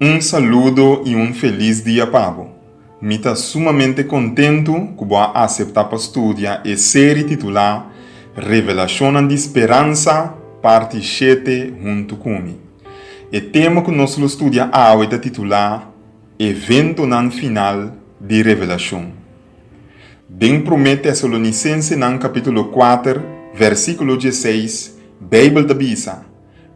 Un saludo i un felis dia pa bo. Mi ta sumamente kontentu ku bo a aseptá pa studia e seri titulá Revelashonnan di Speransa, Parti shete huntu ku mi. E tema ku nos lo studia awe ta titulá Eventonan Final di Revelashon. Den Promé Tesalonisensenan kapítulo kuater, vèrsikulo diesseis, Beibel ta bisa,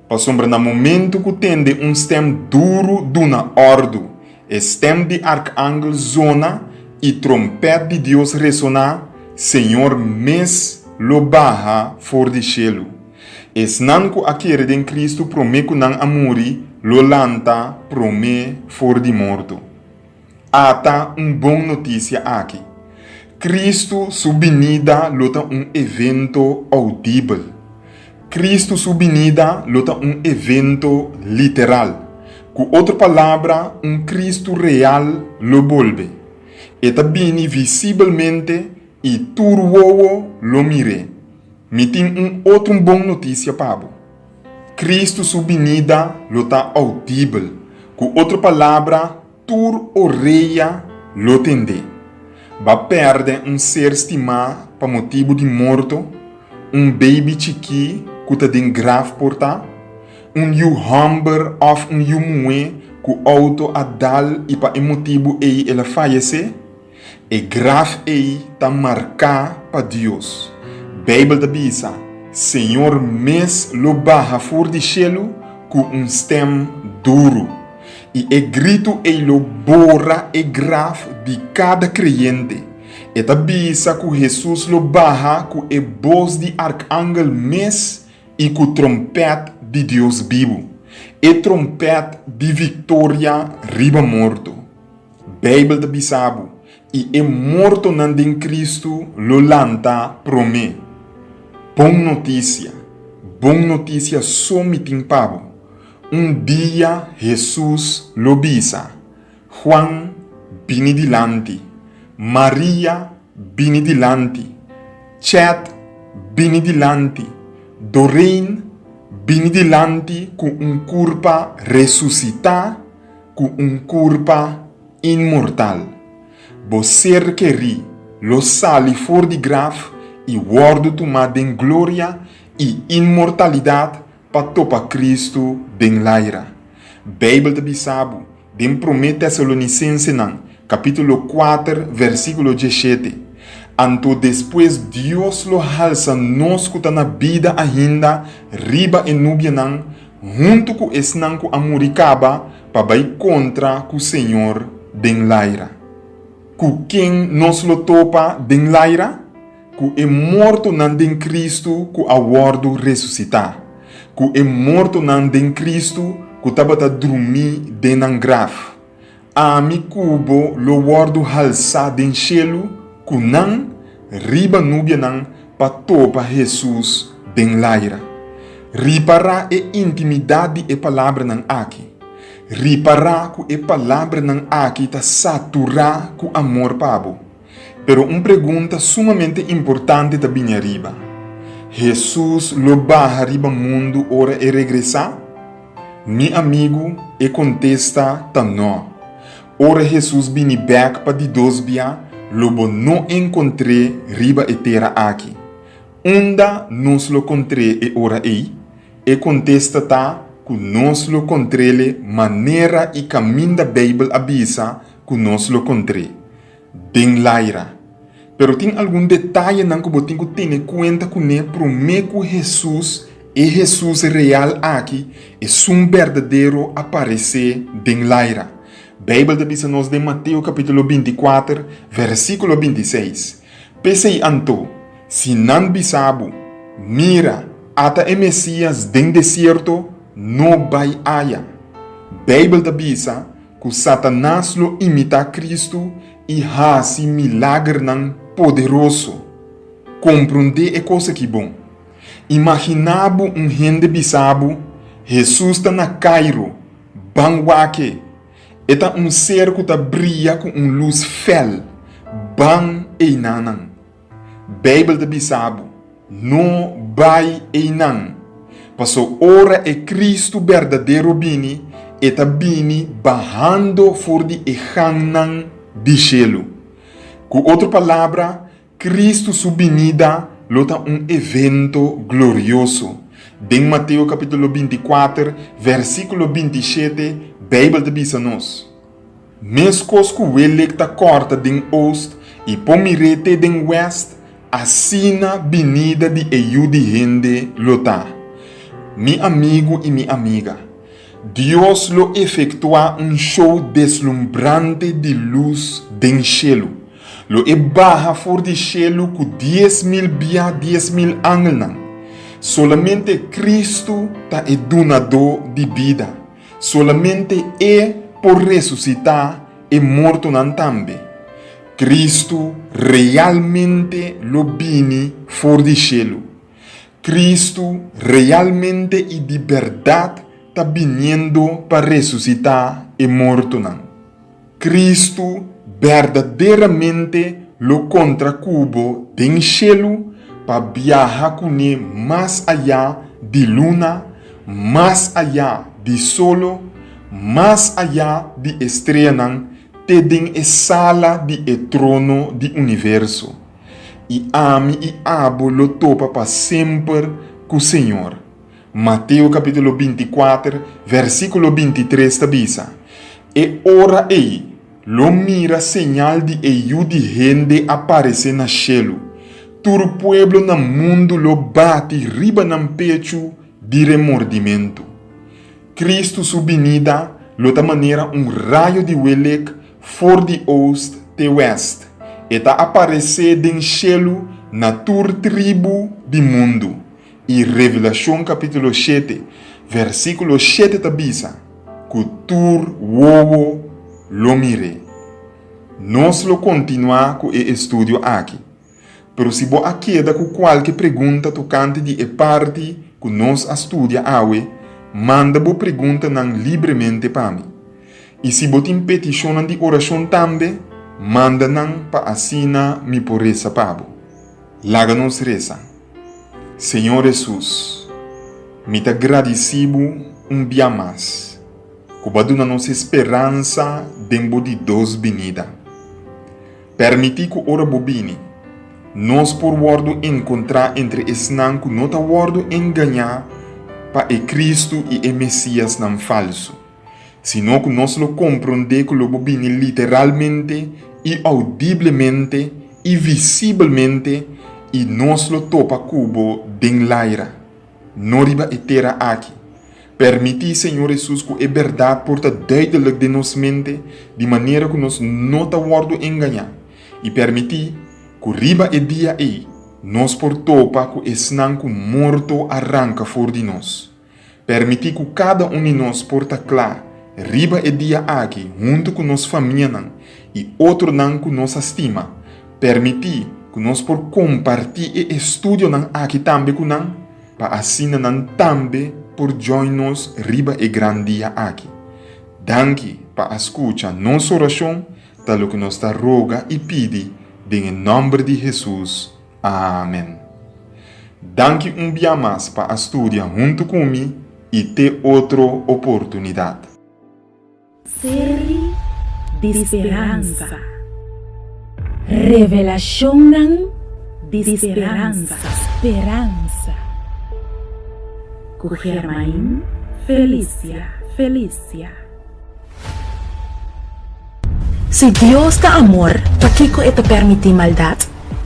Pasobra na momentu ku tende un stèm duru duna òrdu, e stèm di arkanghel zona i trompèt di Dios resoná, Señor mes lo baha for di shelu. Esnan ku a kere den Kristu promé ku nan a muri, lo lanta promé for di morto. Ata un bon notisia aki. Kristu su binida lo ta un evento oudibel. Kristu su binida lo ta un evento literal. Ku otro palabra, un Kristu real lo bolbe. E ta bini visibelmente i tur wowo lo mir'é. Mi tin un otro bon notisia pa bo. Kristu su binida lo ta oudibel, ku otro palabra, Tur orea lo tendé. B'a pèrdè un ser stimá pa motibu di morto, un beibi chikí ku ta den graf portá, un yu hòmber òf un yu muhé ku outo a dal i pa e motibu ei el a fayesé? E graf ei ta marká pa Dios. Beibel ta bisa, Señor mes lo baha for di shelu ku un stèm duru, i e gritu ei lo bora e graf di kada kreyente. E ta bisa ku Hesus lo baha ku e bos di arkangel mes i ku trompèt di Dios bibu, e trompèt di viktoria riba morto. Beibel ta bisa bo, I e mortonan den Kristu lo lantá promé. Bon notisia! Bon notisia so mi tin pa bo. Un dia Hesus lo bisa, Juan, bini dilanti. Maria, bini dilanti. Chet, bini dilanti. Doreen, bini dilanti ku un kurpa resusitá. Ku un kurpa inmortal, bo Ser Kerí lo sali for di graf i wòrdu tumá den gloria i inmortalidat pa topa Kristu den laira. Beibel ta bisa bo den Promé Tesalonisensenan kapítulo kuater vèrsikulo dieshete, Anto despues Dios lo halsa nos ku ta na bida ainda riba e nubianan huntu ku esnan ku a muri kaba pa bai kontra ku Señor den laira. Ku ken nos lo topa den laira? Ku e mortonan den Kristu ku a wòrdu resusitá, ku e mortonan den Kristu ku tabata drumí den nan graf. Ami ku bo lo wòrdu halsá den shelu ku nan riba nubianan pa topa Hesus den laira. Ripará e intimidat di e palabranan aki. Ripará ku e palabranan aki ta saturá ku amor pa bo. Pero un pregunta sumamente importante ta bini ariba, Hesus lo baha riba mundu ora e regresá? Mi amigu, e kontesta ta no. Ora Hesus bini bèk pa di dos bia, lo bo no enkontr'é riba e tera aki. Unda nos lo kontr'é e ora ei? E kontesta ta ku nos lo kontr'é le manera i kaminda Beibel a bisa ku nos lo kontr'é. den laira. Pero tin algun detayenan ku bo tin ku tene kuenta kuné promé ku Hesus, e Hesus real aki, esun berdadero a paresé den laira. Beibel ta bisa nos den Mateo kapítulo binti kuater, versíkulo binti seis, P'esei anto, si nan bisa bo, Mira, ata e Mesías den desierto, no bai aya. Beibel ta bisa Ku Satanas lo imitá Kristu i hasi milagernan poderoso. Komprondé e kos aki bon. Imaginá bo un hende bisa bo, Hesus ta na Kairo, ban wak-e. E ta un ser ku ta bria ku un lus fèl, ban einanan. Bijbel ta bisa bo, No bai einan, paso ora e Kristu berdadero bini, e ta bini bahando for di e hannan di shelu. Ku otro palabra, Kristu su binida lo ta un evento glorioso. Den Mateo kapítulo binti kuater, vèrsikulo binti shete, Bijbel ta bisa nos, Meskos ku Welek ta kòrta den ost i pon mir'é te den wèst, asina binida di e yu di hende lo ta. Mi amigu i mi amiga, Dios lo efektuá un shou deslumbrante di lus den shelu. Lo e baha for di shelu ku dies mil bia dies mil angelnan. Solamente Kristu ta e Dunadó di bida. Solamente E por resusitá e mortonan tambe. Kristu realmente lo bini for di shelu. Kristu realmente i di bèrdat ta biniendo pa resusitá e mortonan. Kristu berdaderamente lo kontra ku bo den shelu pa biaha kuné mas ayá di luna, mas ayá di solo, mas ayá di estreanan te den e sala di e trono di universo. I ami i abo lo topa pa semper ku Señor. Mateo capítulo binti kuater, versículo binti tres ta bisa, E ora ei lo mira señal di e Yu di hende a paresé na shelu, tur pueblo na mundu lo bati riba nan pechu di remordimentu. Kristu su binida lo ta manera un rayo di welek for di oost te wèst, e ta a paresé den shelu na tur tribu di mundu. I Revelashon kapítulo shete, vèrsikulo shete ta bisa ku tur wowo lo mir'é. Nos lo kontinuá ku e estudio aki, pero si bo a keda ku kualke pregunta tokante di e parti ku nos a studia awe, manda bo preguntanan libremente pa mi. I si bo tin petishonnan di orashon tambe, manda nan pa asina mi por resa pa bo. Laga nos resa. Señor Hesus, mi ta gradici Bo un bia mas cu Bo a duna nos e speransa den Bo di dos binida. Permiti cu ora Bo bini, nos por wordo encontra entre esnan cu no ta wordo engaña pa e Cristo y e Mesiasnan falso. sino ku nos lo komprondé ku lo bo bini literalmente i oudiblemente i visibelmente i nos lo topa ku bo den laira, no riba e tera aki. Permití Señor Hesus ku e bèrdat por ta duidelik den nos mente di manera ku nos no ta wòrdu engañá i permití ku riba e dia ei nos por topa ku esnan ku morto a ranka for di nos. Permití ku kada un di nos por ta kla riba e dia aki huntu ku nos famianan i otronan ku nos a stima. Permití ku nos por kompartí e estudionan aki tambe ku nan, pa asina nan tambe por join nos riba e gran dia aki. Danki pa a skucha nos orashon, ta loke nos ta roga i pidi den e nòmber di Hesus. Amen. Danki un bia mas pa a studia huntu ku mi i te otro oportunidat. Seri di speransa. Revelashonnan di speransa. Speransa. Ku Germain Felicia Felicia. Si Dios ta amor, pakico e ta permiti maldad?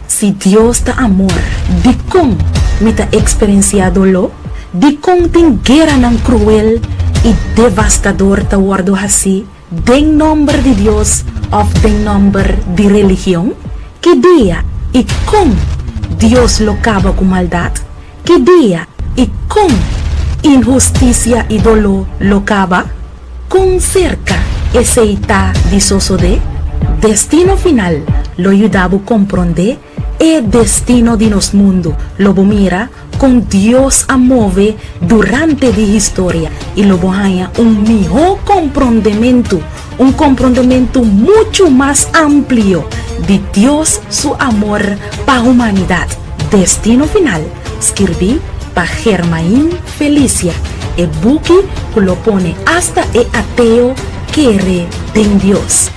Si Dios ta amor, dicon mi ta experencia dolo? Dicon tin gueranan cruel y devastador ta wordo haci den nomber di Dios of den nomber di religion? Ki dia y con Dios lo caba cu maldad? Ki dia i kon inhustisia i doló lo kaba? Kon serka esei ta di sosodé? Destino final lo yuda bo komprondé e destino di nos mundu. Lo bo mira kon Dios a move durante di historia i lo bo haña un mihó komprondementu Un komprondementu muchu mas amplio di Dios su amor pa humanidat, Destino Final, skirbí pa Germain Felicia, e buki ku lo pone asta e ateo kere den Dios.